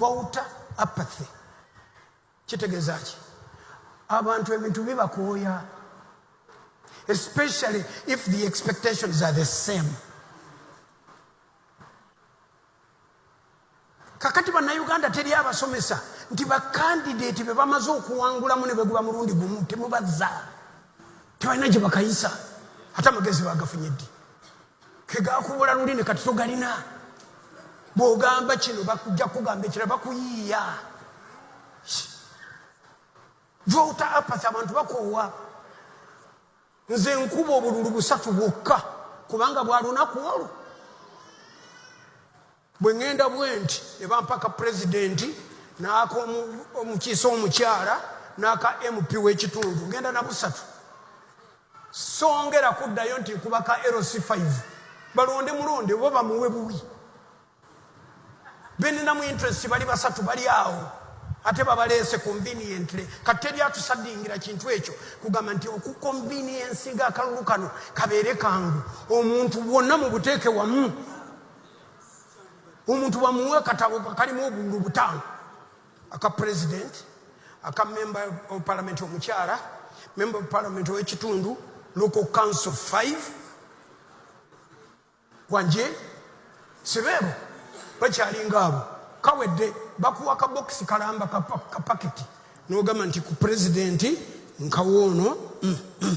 wawuta apathy kitegeeza ki abantu ebintu bibakooya especially if the expectations are the same kakati bannayuganda teri abasomesa nti bakandideeti be bamaze okuwangulamu ne beguba mulundi gumu temubazza tebalina gye bakayisa ate amagezi bagafunye ddi kegakubula lulimi kati togalina bwogamba kino bakujja kugamba ekira bakuyiiya vota apathy abantu bakoowa nze nkuba obululu busatu bwokka kubanga bwalunaku olwo bwe ŋŋenda bwenti ne bampa ka pulezidenti n'aka omukiise omukyala n'aka mp w'ekitundu ŋŋenda na busatu songera kuddayo nti nkuba ka lc 5 balonde mulonde oba bamuwe buwi beninamu interest bali basatu bali awo ate babaleese conveniently kati teri atusadingira kintu ekyo kugamba nti okuconveniensinga akalulu kano kabeere kangu omuntu wonna mu buteeke wamu omuntu bamuwa akatabo kalimu obululu butaano aka president aka member of parliament omukyala member of parliament owekitundu local council 5 wanje sibeebo bakyalinga abo kawedde bakuwa kabokisi kalamba kapaketi nogamba nti ku president nkawoono mm, mm.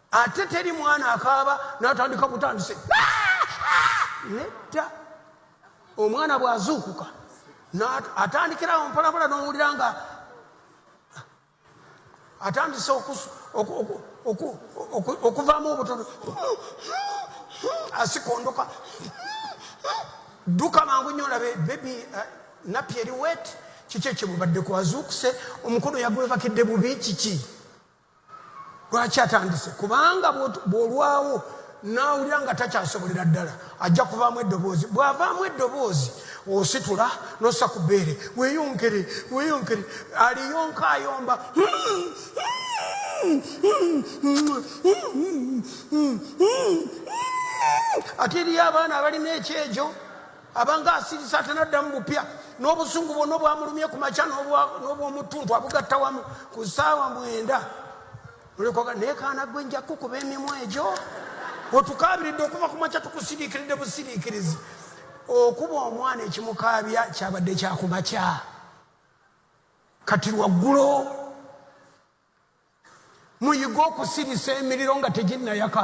ate teri mwana akaaba natandika butandise nedda omwana bwazuukuka atandikirawo mpolabula nowulira nga atandise okuvaamu obutono asikondoka dduka mangu nyo olabe bebi eh, napi eri wet kiki ekyebubaddeko azuukuse omukulu yagwebakidde bubi kiki lwaki atandise kubanga bwolwawo nawulira nga takyasobolera ddala ajja kuvaamu eddoboozi bwavaamu eddoboozi ositula nosa ku bbeere weyonkere weyonkere aliyonka ayomba ate eriyo abaana abalina ekyejo abanga asirisa atanaddamu bupya n'obusungu bwonna obwamulumye ku makya n'obwomuttuntu abugatta wamu ku ssaawa mwenda olikoga naye kaana gwe nja kukuba emimwa egyo otukaabiridde okuva ku makya tukusiriikiridde busiriikirizi okuba omwana ekimukaabya kyabadde kyakumakya kati lwaggulo muyige okusirisa emiriro nga teginnayaka